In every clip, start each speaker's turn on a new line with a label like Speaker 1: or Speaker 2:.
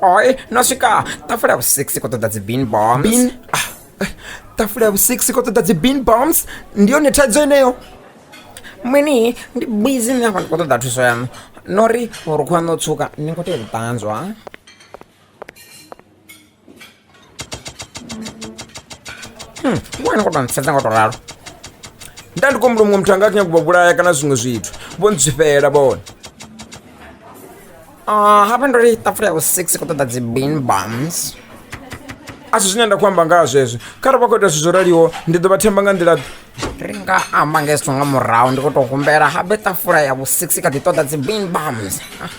Speaker 1: Oi, no swika tafula ya vhusiksi khou ṱoḓa dzi bean bombs bean ah, eh, tafula ya vhusiksi khou ṱoḓa dzi bean bombs ndi yone thaidzo ineyo mini ndi busy ni hafha ndi khou ṱoḓa thuso yaṋu no ri vhurukhu haṋu o tswuka ni khou tea u ṱanzwa Hmm, wena ko tou sedza nga tou ralo nda ndi kombula muṅwe muthu anga kanya kuba vhulaya kana zwiṅwe zwithu vho ntswifhela vhone ah, hafha ndo ri tafula ya vhusix khou ṱoḓa dzi bean bums a si zwine nda khou amba ngaha zwezwo kharali vha khou ita zwithu zwo raliho ndi ḓo vha themba nga nḓila ri nga amba nga hezwo nga murahu ndi khou tou humbela habe tafula ya vhusix kha ḓi ṱoḓa dzi bean bums ah.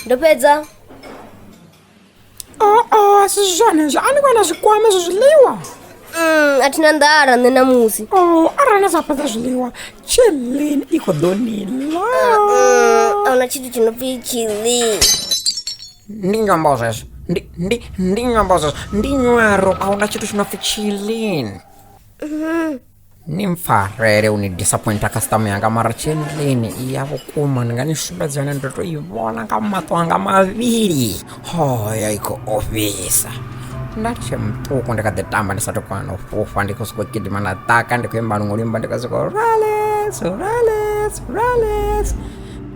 Speaker 2: ndo fhedza aa
Speaker 3: a si zwone zwo a ni vhona zwikwama zwa zwiḽiwa Mm, a thi
Speaker 2: na nḓala nṋe ṋamusi o Oh, arali na sa fhedza
Speaker 3: zwiḽiwa chelin i khou ḓo ni ḽa Mm,
Speaker 2: a huna tshithu tshi no pfi tshili
Speaker 3: ndi nyambo zwezwo ndi ndi ndi nyambo zwezwo ndi nyaro a huna tshithu tshi no pfi chilin nimfarwa here unidisappointa customer yanga mara chenlini iya vukuma ni nga ni sumbedza yone ndo to yi vona nga mato anga mavili ho ya yi khou ofhisa nda tshe muṱuku ndi kha ḓi tamba ndi sa to kwana u fhufha ndi khou sokou gidima na ḓaka ndi khou imba luṅwe luimba ndi khou sokou rales rales rales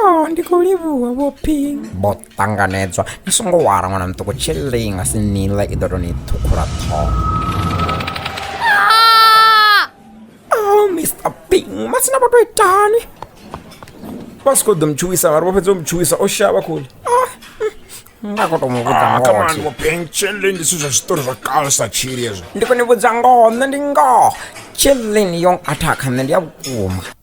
Speaker 3: Oh, ndi khou livhuwa vho ping vho ṱanganedzwa ni songo wara ṅwana muṱuku tshilei nga si nila i ḓo tou ni ṱhukhula ṱhoho oh mr ping masina vho tou itani vha si khou ḓo mutshuwisa vhari vho fhedza u mutshuwisa o shavha khuli ah, mm, nga khou tou mu vhudza ah, ngoho vho ping
Speaker 1: tshilei ndi zwithu zwa zwiṱori zwa kale sa tshili ezwo ndi khou ni vhudza ngoho
Speaker 3: nṋe ndi ngoho tshilei ni yong athakha nṋe ndi ya vhukuma